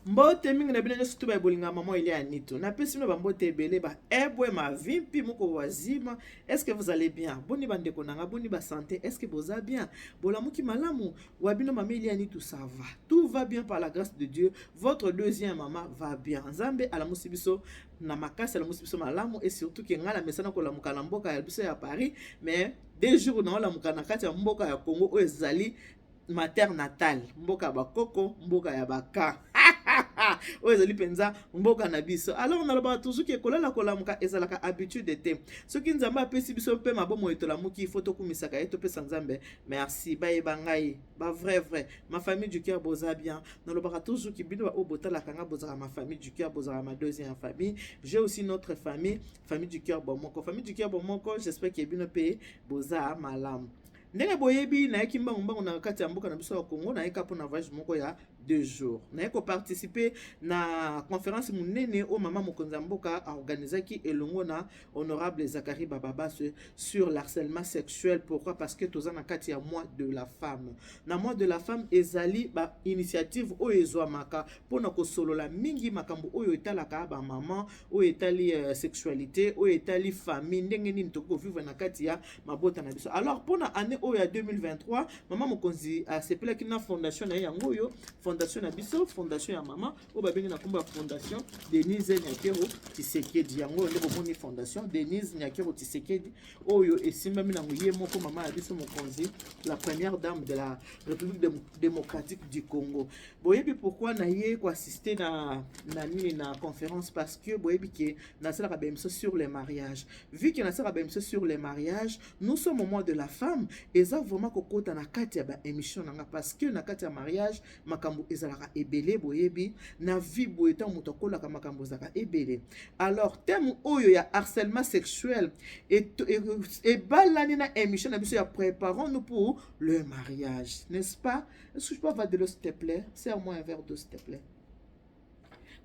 mbote mingi na bino nyonso to baye bolinga mama elia ya nito napesi bino bambote ebele ba ebwe mavi mpi moko wazima estce vous allez bien boni bandeko na nga boni basante estce boza bien bolamuki malamu wa bino mama elia nito ça va tout va bien par la grâce de dieu votre deuxième mama va bien nzambe alamusi biso na makasi alamusi biso malamu e surtout ke ngai na mesana kolamuka na mboka ya biso ya paris mais de jour naolamuka na kati ya mboka ya congo oyo ezali ma terre natale mboka ya bakoko mboka ya baka oyo ezali mpenza mboka na biso alors nalobaka toujours ke kolala kolamuka ezalaka habitude te soki nzambe apesi biso mpe mabomo etolamuki ifo tokumisaka ye topesa nzambe merci bayeba ngai ba vrai vrai ma famille du cœur boza bien nalobaka toujours ke bino baoyo botalaka nga bozalaka ma famille du cœur bozalaka ma deuxième famille j'ai aussi notre famille famille du cœur bomoko famille du cœur bomoko j'espère ke bino mpe boza malamu Ndenge boyebi, nayaki mbangu mbangu na kati ya mboka na biso ya Congo, nayaki kaka mpo na voyage moko ya deux jours. Nayaki koparticipe na conference monene oyo mama mokonzi ya mboka aorganizaki elongo na honorable Zachary Bababaswe sur l'harcèlement sexuel. Pourquoi? Parce que toza na kati ya mois de la femme. Na mois de la femme ezali ba initiative oyo ezwamaka mpo na kosolola mingi makambo oyo etalaka ba maman, oyo etali euh, sexualité, oyo etali famille, ndenge nini tokoki kovivre na kati ya mabota na biso alors mpo na année oyo ya 2023 mama mokonzi asepelaki na fondation na ye yango oyo fondation na biso fondation ya mama oyo babengi na nkombo ya fondation denise nyakero tisekedi yango oyo nde bomoni fondation denise nyakero tisekedi oyo esimbami nango ye moko mama ya biso mokonzi la première dame de la république de, démocratique du congo boyebi pourquoi na ye koassiste na, na nini na conférence parce que boyebi ke nasalaka baemission sur le mariage Vu que nasaka ba emission sur les mariages, nous sommes au mois de la femme, eza vraiment kokota na kati ya ba emission nanga parce que na kati ya mariage makambo ezalaka ebele boyebi na vie boye ntango moto akolaka makambo ezalaka ebele. Alors thème oyo ya harcèlement sexuel ebalani na emission na biso ya préparons nous pour le mariage, n'est-ce pas? Est-ce que je peux avoir de l'eau s'il te plaît? Serre-moi un verre d'eau s'il te plaît.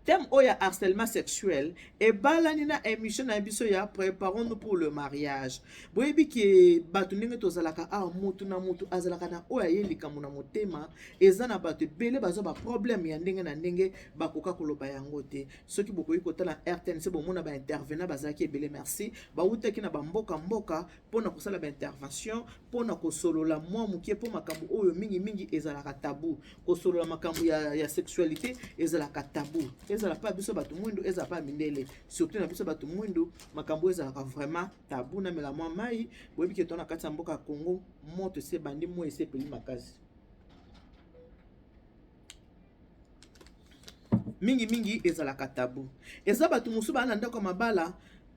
Thème oyo ya harcèlement sexuel ebalani na émission na biso ya préparons-nous pour le mariage. Boyebi ke bato ndenge tozalaka awa, moto na moto azalaka na oyo aye likambo na motema. Eza na bato ebele bazwa ba problème ya ndenge na ndenge, bakoka koloba yango te. Soki bokoki kotala RTNC bomona ba intervenants bazalaki ebele. Merci. Bawutaki na ba mboka mboka mpo na kosala ba intervention, mpo na kosolola mwa moke mpo makambo oyo mingimingi ezalaka tabu kosolola makambo ya, ya sexualité ezalaka tabu ezala mpe ya biso bato mwindu ezala mpe ya mindele surtout na biso bato mwindu makambo oyo ezalaka vraiment tabu na mela mwa mai boyebi ke to na kati ya mboka ya congo moto ese ebandi moi ese epeli makasi mingi mingi ezalaka tabu eza bato mosusu baa na ndako ya mabala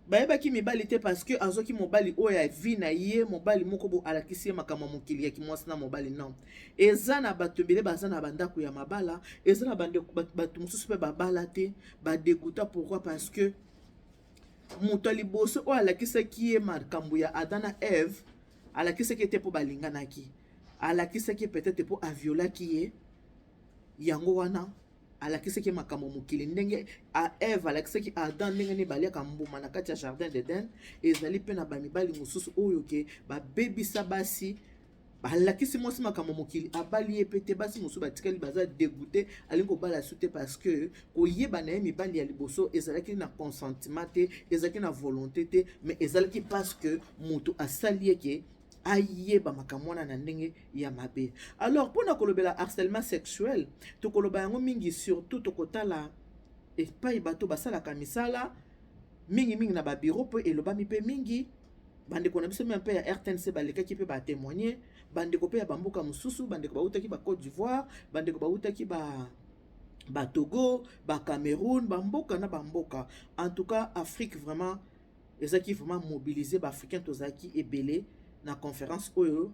bayebaki mibali te parce que azoki mobali oyo ya vie na ye mobali moko bo alakisi ye makambo ya mokili ya kimwasi na mobali non eza na bato ebele baza na bandako ya mabala eza na bato mosusu mpe babala te badeguta pourquoi parce que Moto ya liboso oyo alakisaki ye makambo ya Adam na Eve, alakisaki ye te mpo balinganaki, alakisaki ye peut-être mpo aviolaki ye. Yango wana alakisaki ye makambo mokili ndenge a Eve alakisaki Adam ndenge nini baliaka mbuma na kati ya jardin d'Eden, ezali mpe na bamibali mosusu oyo ke babebisa basi alakisi mwasi makambo mokili abali ye mpe te basi mosusu batikali baza degoute alingi kobala su te parce que koyeba na ye mibali ya liboso ezalaki na consentiment te ezalaki na volonté te mais ezalaki parce que moto asali ye ke ayeba makambo wana na ndenge ya mabe alors mpo na kolobela harcèlement sexuel tokoloba yango mingi surtout tokotala epai bato basalaka misala mingimingi na babiro mpo elobami mpe mingi bandeko na biso mia mpe ya rtnc balekaki mpe batemoigne bandeko mpe ya bamboka mosusu bandeko bautaki ba côte d'ivoire bandeko bautaki ba batogo bacameroun bamboka na bamboka en tout cas afrique vraiment ezalaki vraiment mobilise baafricain tozalaki ebele na conférence oyo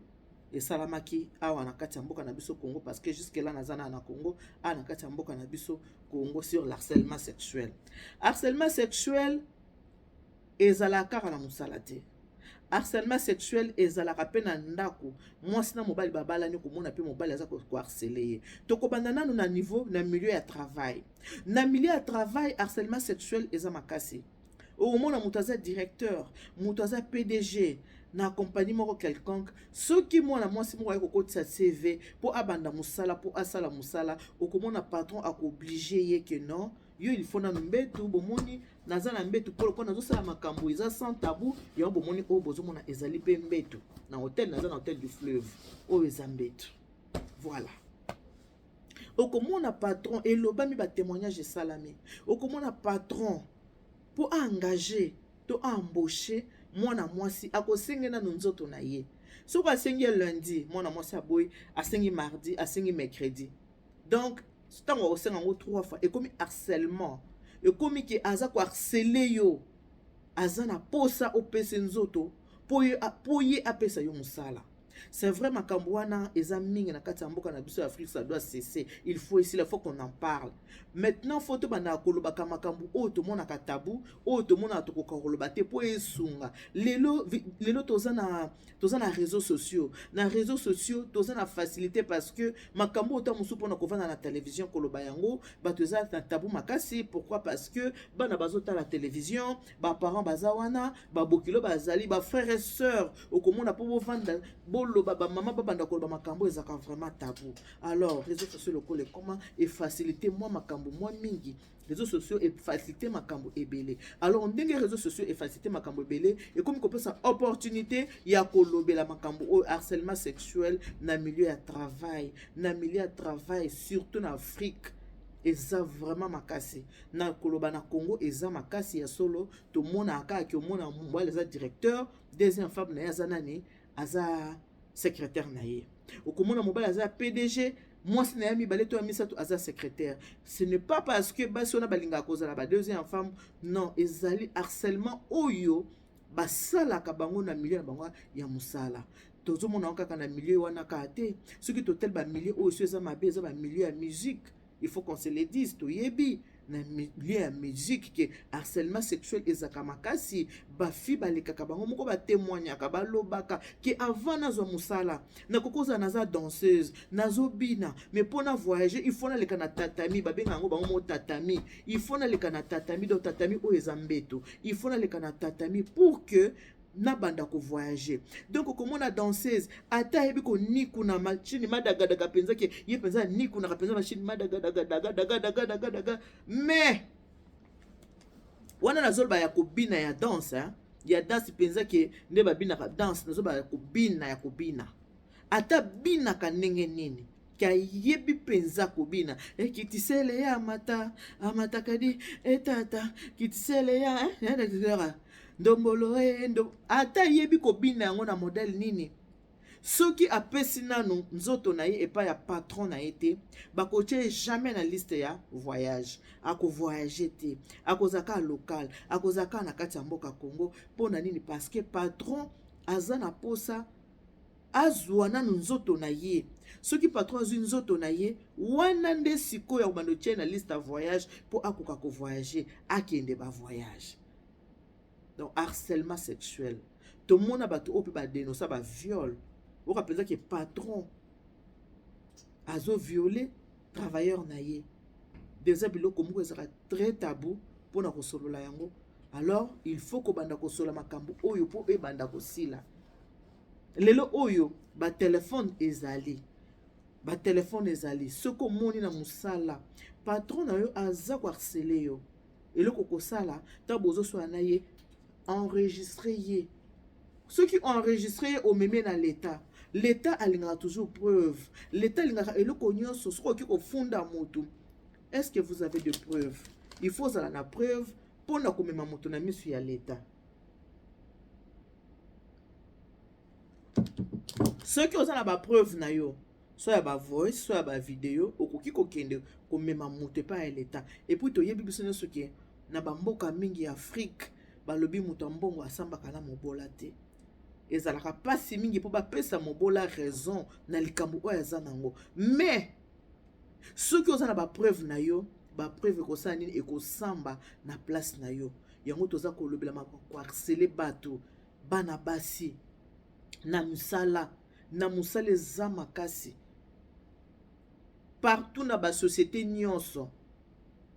esalamaki awa na kati ya mboka na biso congo parce que jusque là naza na na congo awa na kati ya mboka na biso congo sur l'harcèlement sexuel harcèlement sexuel Ezalaka kaka na mosala te. Harcèlement sexuel ezalaka mpe na ndako. Mwasi na mobali babalani komona mpe mobali aza koharcele ye. Tokobanda nanu na niveau na milieu ya travail. Na milieu ya travail harcèlement sexuel eza makasi. Okomona moto aza directeur, moto aza PDG na compagnie moko quelconque, soki mwana mwasi moko aye kokotisa CV mpo abanda mosala mpo asala mosala, okomona patron akooblige ye ke non yo il faut nanu mbetu bomoni naza na mbetu polo mpo nazosala makambo eza sans tabou yango bomoni oyo bozomona ezali mpe mbetu na hotel naza na hotel du fleuve oyo eza mbetu voilà okomona patron elobami batémoignage esalami okomona patron mpo aengage to aembauche mwana mwasi akosenge nanu nzoto na ye soki asengi ya lundi mwana mwasi aboyi asengi mardi asengi mercredi donc ntango akosenga yango trois fois ekomi harcèlement ekomi ke aza koharcele yo aza na posa opese nzoto mpo ye apesa yo mosala c'est vrai makambo wana eza mingi na kati ya mboka na biso ya afrique ça doit cesser il faut esila faut qu'on en parle maintenant faut tobandaka kolobaka makambo oyo tomonaka tabu oyo tomonaka tokoka koloba te mpo esunga lelo lelo toza na toza na réseaux sociaux na réseaux sociaux toza na facilité parce que makambo ota mosusu mpona kovanda na télévision koloba yango bato eza na tabu makasi pourquoi parce que bana bazotala télévision baparent baza wana babokilo bazali bafrère et sœur okomona mpo bovanda boloba bamama babanda koloba makambo ezalaka vraiment tabu alors réseaux sociaux lokola ekoma efacilité mwa makambo mwa mingi réseaux sociaux efacilite makambo ebele alors ndenge réseaux sociaux efacilite makambo ebele ekomi kopesa opportunité ya kolobela makambo oyo harcèlement sexuel na milieu ya travail na milieu ya travail surtout na afrique eza vraiment makasi na koloba na congo eza makasi ya solo tomonaka kaka ke omona mobali aza directeur deuxième femme na ye aza nani aza secrétaire na ye okomona mobali aza pdg mwasi na ye mibale to ya misato aza secrétaire ce n'est pas parce que basi wana balingaka kozala ba deuxième femme non ezali harcèlement oyo basalaka bango na milieu na bango ya mosala tozomona yango kaka na milieu wana kaka te soki totali bamilieu oyo so eza mabe eza bamilieu ya musique il faut qu'on se le dise toyebi na milieu ya musique ke harcèlement sexuel ezaka makasi bafi balekaka bango moko batemoignaka balobaka ke avant nazwa mosala nakoki kozala naza danseuse nazobina mais mpo na voyage il faut naleka na tatami babenga yango bango moko tatami il faut naleka na tatami donc tatami oyo eza mbeto il faut naleka na tatami pour que na banda ko voyager donc okomona danseuse ata ayebi konikuna machini madagadaka mpenza ke ye mpenza anikunaka mpenza machini madagadagadagadagadagadagadaga mais wana nazoloba ya kobina ya danse ya danse mpenza ke nde babinaka danse nazoloba ya kobina ya kobina ata binaka ndenge nini Kayebi mpenza kobina eh, kitisele ya amata amata kadi etata eh, kitisele ya eh, ndombolo endo ata ayebi kobina yango na modele nini soki apesi nanu nzoto na ye epai ya patron na ye te bakotya ye jamais na liste ya voyage akovoyage te akozala kaka local akozala kaka na kati ya mboka congo mpo na nini parce que patron aza na mposa azua nanu nzoto na ye soki patron azui nzoto na ye wana nde sikoyo akobanda otye na liste ya voyage mpo akoka kovoyage akende bavoyage donc harcèlement sexuel tomona bato oyo mpe badenosa baviole oyoka mpenza ke patron azoviole travailleur na ye deja biloko moko ezalaka très tabou mpo na kosolola yango alors il faut kobanda kosolola makambo oyo mpo ebanda kosila lelo oyo batelefone ezali batelefone ezali soki omoni na mosala patron na yo aza koarsele yo eloko kosala ntango bozoswana na ye enregistre ye soki enregistre ye omemie na leta leta alingaka toujours preuve leta alingaka eloko nyonso soki okoki kofunda motu est ce que vous avez de preuve il faut ozala na preuve mpo na komema moto na miso ya leta soki oza na bapreuve na yo so ya bavoice so ya bavideo okoki kokende komema moto epai ya leta epuis toyebi biso nyonso ke na bamboka mingi ya afrike balobi moto ya mbongo asambaka na mobola te ezalaka mpasi mingi mpo bapesa mobola raison na likambo oyo aza nango mais soki oza na bapreuve na yo bapreuve ekosala nini ekosamba na place na yo yango toza kolobela mako koarsele bato bana basi na misala na mosala eza makasi partout na basociété nyonso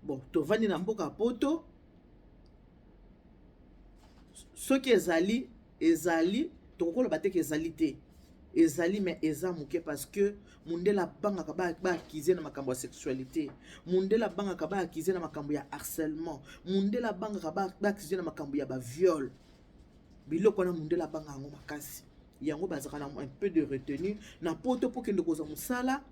bon tovandi na mboka poto soki ezali Ezali, tokoki koloba te ke ezali te. Ezali mais eza moke parce que mundele abangaka ba ba accuser na makambo ya sexualité. Mundele abangaka ba accuser na makambo ya harcèlement. Mundele abangaka ba ba accuser na makambo ya ba viol. Biloko wana mundele abanga yango makasi. Yango bazaka na un peu de retenue na poto po kende kozwa musala.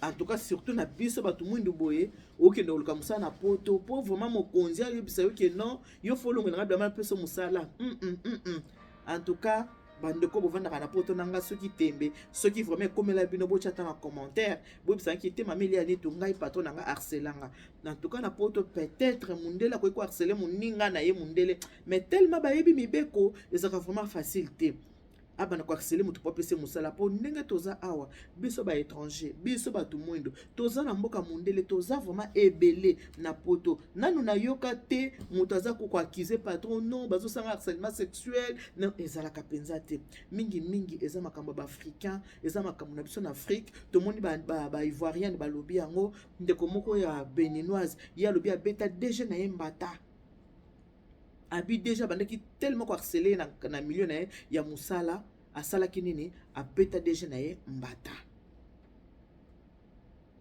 en tout cas surtout na biso bato mwindu boye okende koluka mosala na poto mpo vraiment mokonzi ayebisa yo ke non yo folongelanga bilama mpe so mosala mm -mm, mm -mm. en tout cas bandeko bovandaka na poto na ngai soki tembe soki vraiment ekomela bino botya ata na commentaire boyebisaki te mama elia nitu ngai patron na ngai harcelanga na tuka na poto peut-être mundele akoki koharcele moninga na ye mundele mais tellement bayebi mibeko ezalaka vraiment facile te abanda koaksele moto mpo apese mosala mpo ndenge toza awa biso ba étranger biso bato mwindo toza na mboka mondele toza vraiment ebele na poto nanu nayoka te moto aza kokoakize patron non bazosanga harcèlement sexuel non ezalaka mpenza te mingimingi eza makambo ya baafricain eza makambo na biso na afrique tomoni baivoirienne ba, ba balobi yango ndeko moko ya beninoise ye alobi abeta dg na ye mbata Abi deja abandaki tellement ko harceler ye na, na milieu na ye ya mosala, asalaki nini? Abeta deja na ye mbata.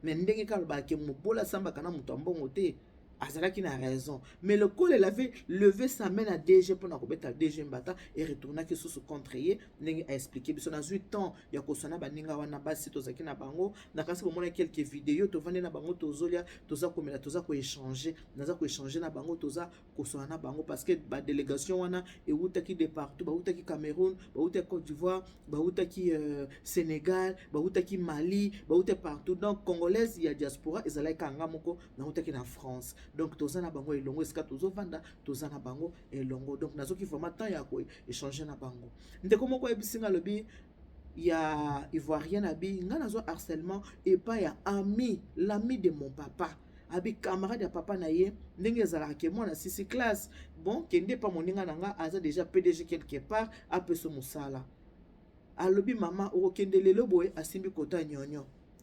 Mais ndenge kaka alobaka ke mobola asambaka na moto ya mbongo te, azalaki na raison. Mais lokola elle avait levé sa main na DG mpo na kobeta DG mbata, e retournaki susu contre ye, ndenge a expliquer biso. Nazwi temps ya koswa na baninga wana basi tozalaki na bango, nakanisi bomonaki quelques videos, tovandi na bango tozolia, toza komela, toza ko echanger naza koechange na bango toza koswana na bango parce que badelegation wana ewutaki de partout bawutaki cameroun bawutaki côte d'ivoire bawutaki euh, sénégal bawutaki mali bawutaki partout donc congolaise ya diaspora ezalaki kanga moko nawutaki na france donc toza na bango elongo esika tozovanda toza na bango elongo donc nazoki vraiment temps ya koechange na bango ndeko moko ayebisi nga alobi ya ivoirienne abi nga nazwa harcèlement epai ya ami l'ami de mon papa abi camarade ya papa na ye ndenge ezalaka ke mwana sisi classe bon kende epa moninga na nga aza deja pdg quelque part apeso mosala alobi mama okokende lelo boye asimbi kota nyonyo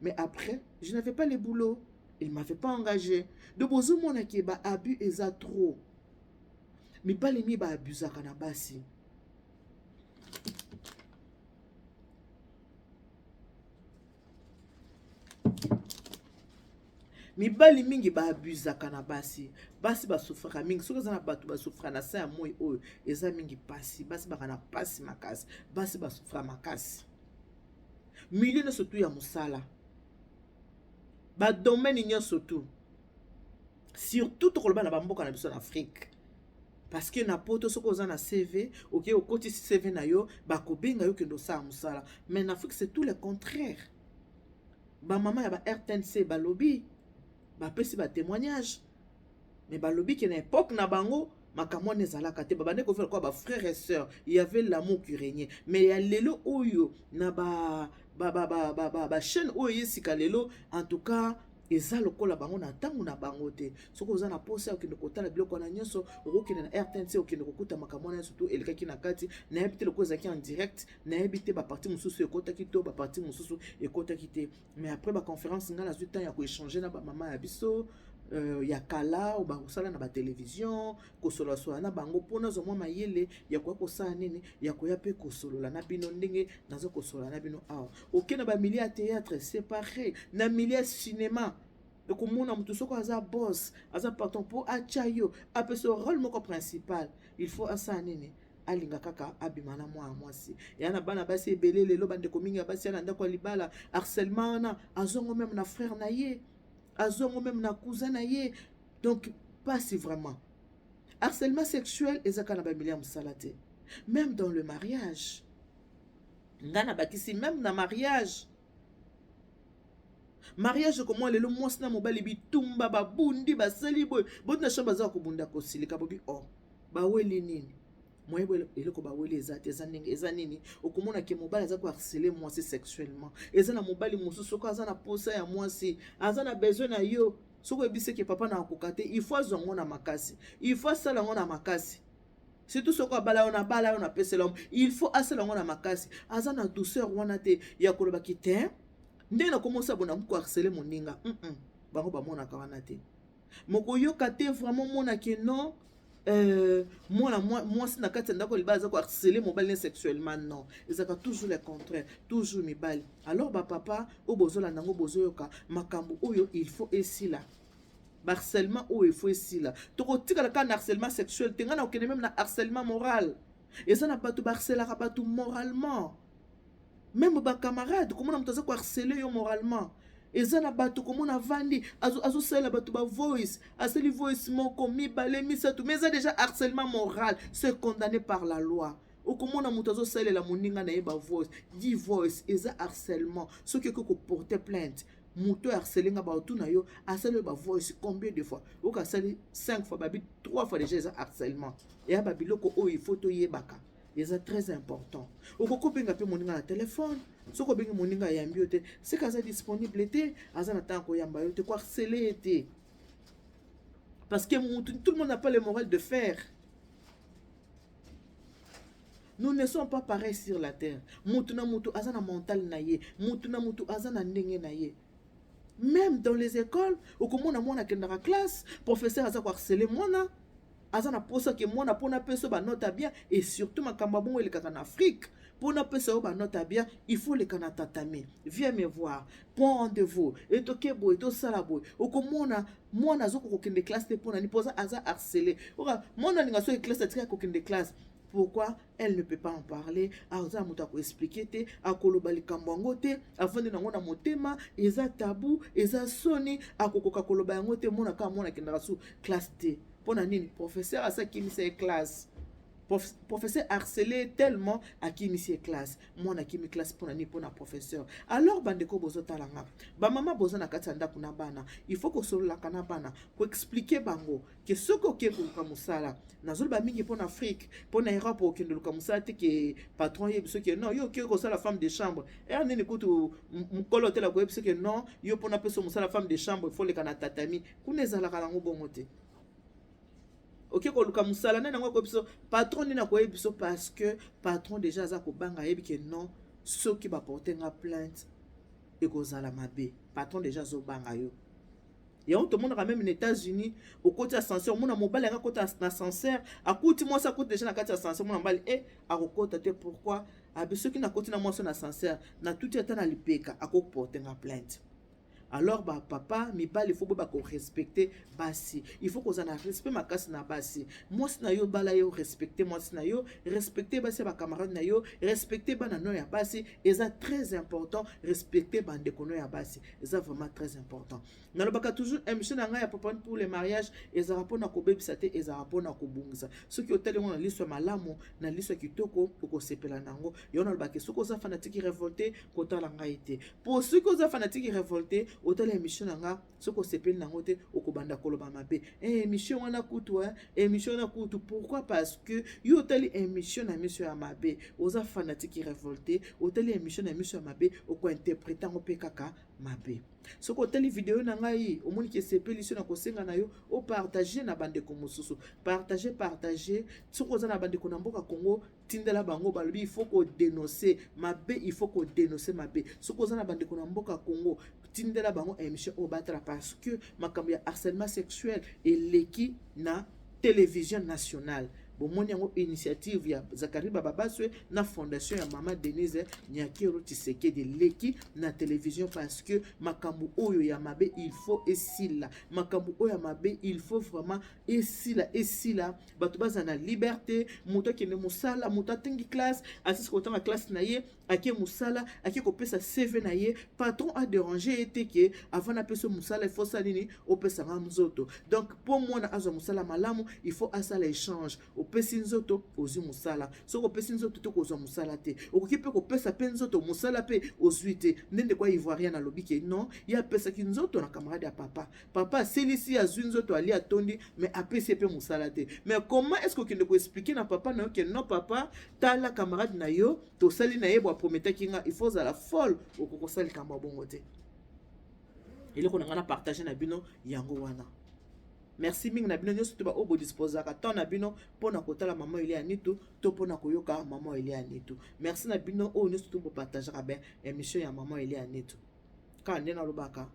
mais après je n'avais pas le boulot il m'avait pas engagé donc bozomona ke ba abus eza trop mibali mi baabusaka na basi mibali mingi baabusaka na basi basi basufraka mingi soki eza na bato basufraka na se ya moi oyo eza mingi mpasi basi baka na mpasi makasi basi basufra makasi milieu nyonso tu ya mosala badomene nyonso tu surtout tokoloba na bamboka na biso na afrike parce que na poto soki oza na cv oke okotisi cv na yo bakobenga yo kende osala mosala mais na afrique c'est tout le contraire bamama ya ba rtnc balobi bapesi batémoignage mais balobi ke na epoque na bango makambo wana ezalaka te babandaki kovivre lokola ba frère et sœur il y avait l'amour qui régnait mais ya lelo oyo na ba ba ba ba ba ba, ba chaîne oyo ye sika lelo en tout cas eza lokola bango na ntango na bango te soki oza na mposa ya okende kotala biloko wana nyonso okokende na rtnc okende kokuta makambo wana nyonso to elekaki na kati nayebi te lokola ezalaki en direct nayebi te baparti mosusu ekotaki to baparti mosusu ekotaki te mais après ba conference nga nazwi temps ya ko échanger na ba mama ya biso euh, ya kala oyo bakosala na batelevision kosolasola na bango mpo nazwa mwa mayele ya koya kosala nini ya koya mpe kosolola na bino ndenge naza kosolola na bino awa oke na bamilie ya théâtre séparé na milie ya cinéma ekomona moto soko aza boss aza patron mpo atya yo apesa role moko principal il faut asala nini alinga kaka abima na mwana mwasi ya na bana basi ebele lelo bandeko mingi ya basi ya na ndako ya libala harcèlement wana azongo meme na frère na ye azongo meme na cousin na ye donc pasi vraiment harcèlement sexuel eza kaka na bamili ya mosala te meme dans le mariage ngai nabakisi meme na mariage mariage ekomwa lelo mwasi na mobali bitumba babundi basali boye boti na chambre aza kobunda kosilika bobi o oh, baweli nini moyebo eloko baweli eza te eza ndenge eza nini okomona ke mobali aza koharcele mwasi sexuellement eza na mobali mosusu soko aza na posa ya mwasi aza na besoin na yo soki oyebisi ke papa na akoka te il faut azwa yango na makasi il faut asala yango na makasi surtout soki abala yo nabala yo napesela yo il faut asala yango na makasi aza na douceur wana te ya koloba kite ndenge nakomosa bona koarsele moninga mm -mm. bango bamonaka wana te mokoyoka te vraiment mona ke non euh, mwana mwasi na kati ya ndako libala aza koharcele mobali ne sexuellement non ezalaka toujours le contraire toujours mibali alors bapapa oyo bozolanda yango bozoyoka makambo oyo il faut esila ba harcèlement oyo il faut esila tokotikala kaka na harcèlement sexuel te ngai nakokende meme na harcèlement moral eza na bato baharcelaka bato moralement meme bacamarade komona moto aza koharcele yo moralement eza na bato komona avandi azosalela bato bavoice asali voice moko mibale misato mais eza déjà harcèlement moral se condamné par la loi okomona moto azosalela moninga na ye bavoice di voice eza harcèlement soki okoki koporte plainte moto harcele nga baotuna yo asali yo bavoice combien de fois oyoka asali 5 fois babi 3 fois déjà eza harcèlement eya babiloko oyo ifo toyebaka eza très important okoki kobenga mpe moninga na telefone soki obengi moninga ayambi yo te seke aza disponible te aza na ntango koyamba yo te koharcele ye te parce que motu tout le monde n'a pas le moral de faire nous ne sommes pas pareil sur la terre mutu na mutu aza na mental na ye mutu na mutu aza na ndenge na ye même dans les écoles okomona mwana akendaka classe professeur aza koharcele mwana aza na posa ke mwana mpo napesa yo banote ya bien et surtout makambo ya bongo elekaka na afrique mpo napesa yo banote ya bien il faut leka na tatami viens me voir prend rendez-vous e toke boye tosala boye okomona mwana azokoka kokende classe te mpo na nini mpoza aza harcele oka mwana alinga soki classe atikaki kokende classe pourquoi elle ne peut pas en parler aza moto akoexplike te akoloba likambo yango te afandi nango na motema eza tabu eza soni akokoka koloba yango te mona kaka mwana akendaka su classe te mpo na nini professeur asakimisa ye classe professeur harcelé tellement akimisi ye classe mwana akimi classe mpona nini mpona professeur alors bandeko bozotala nga bamama boza na kati ya ndako na bana il faut kosololaka na bana koexplike bango ke soki okei koluka mosala nazoloba mingi mpona afrique mpona europe okende oluka mosala te ke patron yebi soki non yo okei kosala femme de chambre er nini kutu mokolo otela koyebi soki non yo mpona peso mosala femme de chambre foleka na tatami kuna ezalaka nango bongo te oke koluka mosala nani yango akoyebi biso patron nini akoyebi biso parce que patron déjà aza kobanga ayebi ke non soki baporte nga plainte ekozala mabe patron déjà azobanga yo yango tomonaka meme na états-unis okoti ascenseur omona mobali yanga akota na ascenseur akuti mwasi akuti deja na kati ya ascenseur mona mobali e eh, akokota te pourquoi abi ah, soki nakoti na mwasi na ascenseur natuti ata na lipeka akoporte nga plainte alors ba papa mibali faut boyeba korespecte basi il faut kozala na respect makasi na basi mwasi na yo bala yo respecte mwasi na yo respecte basi ya bacamarade na yo respecte bana no ya basi eza très important respecte bandeko no ya basi eza vraiment très important nalobaka toujours émission na ngai ya papa pour le mariage ezalaka mpona kobebisa te ezalaka mpona kobongisa soki otali yango na liso ya malamu na liso ya kitoko okosepela na yango yango nalobaka soki oza fanatiki révolté kotala ngai te po soki oza fanatiki revolte otala emission na nga soki osepeli nango te okobanda koloba mabe eh, emission wana kutu eh, emission wana kutu pourquoi parce que yo otali emission na miso ya mabe oza fanatiki revolte otali emission na miso ya mabe okointerprete yango mpe kaka mabe soki otali video na ngai omoni ke esepeli so na kosenga na yo opartage na bandeko mosusu partage partage soki oza na bandeko na mboka congo tindela bango balobi il faut ko denoncer mabe il faut ko denoncer mabe soki oza na bandeko na mboka congo tindela bango émission oyo batala parce que makambo ya harcèlement sexuel eleki na télévision nationale bomoni yango initiative ya zakari bababaswe na fondation ya mama denise nyakero tisekedi eleki na télévision parce que makambo oyo ya mabe il faut esila makambo oyo ya mabe il faut vraiment esila esila bato bazala na liberte moto akende mosala moto atangi classe asisi kotanga classe na ye ake mosala ake kopesa cv na ye patron aderange ye te ke avant napesa mosala ifo osala nini opesa nga nzoto donc mpo mwana azwa mosala malamu ifo asala échange opesi nzoto ozwi mosala soki opesi nzoto to kozwa mosala te okoki mpe kopesa mpe nzoto mosala mpe ozwi te nde ndeko ya ivoirien alobi ke non ye apesaki nzoto na camarade ya papa Papa asilisi ye azwi nzoto alie atondi mais apesi ye mpe mosala te mais comment est ce que okende koexplike na papa na yo ke non papa tala camarade na yo tosali na ye bo aprometaki nga il faut ozala folle okoki kosala likambo ya bongo te eloko na ngai na partage na bino yango wana merci mingi na bino nyonso te baoyo bodisposaka temps na bino mpo na kotala mama elia nitu to mpo na koyoka mama elia nitu merci na bino oyo nyonso te bopartageaka ben émission ya mama elia nitu kaka nde nalobaka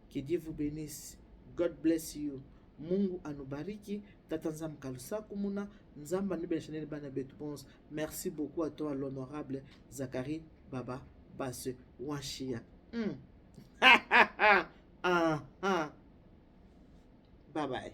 que dieu vous benisse god bless you mungu anubariki tata nzambe kalusaku muna nzambe anubela chanel bana betu bonse merci beaucoup à toi l'honorable zakari baba base wanshiya mm. ah, ah. bye bye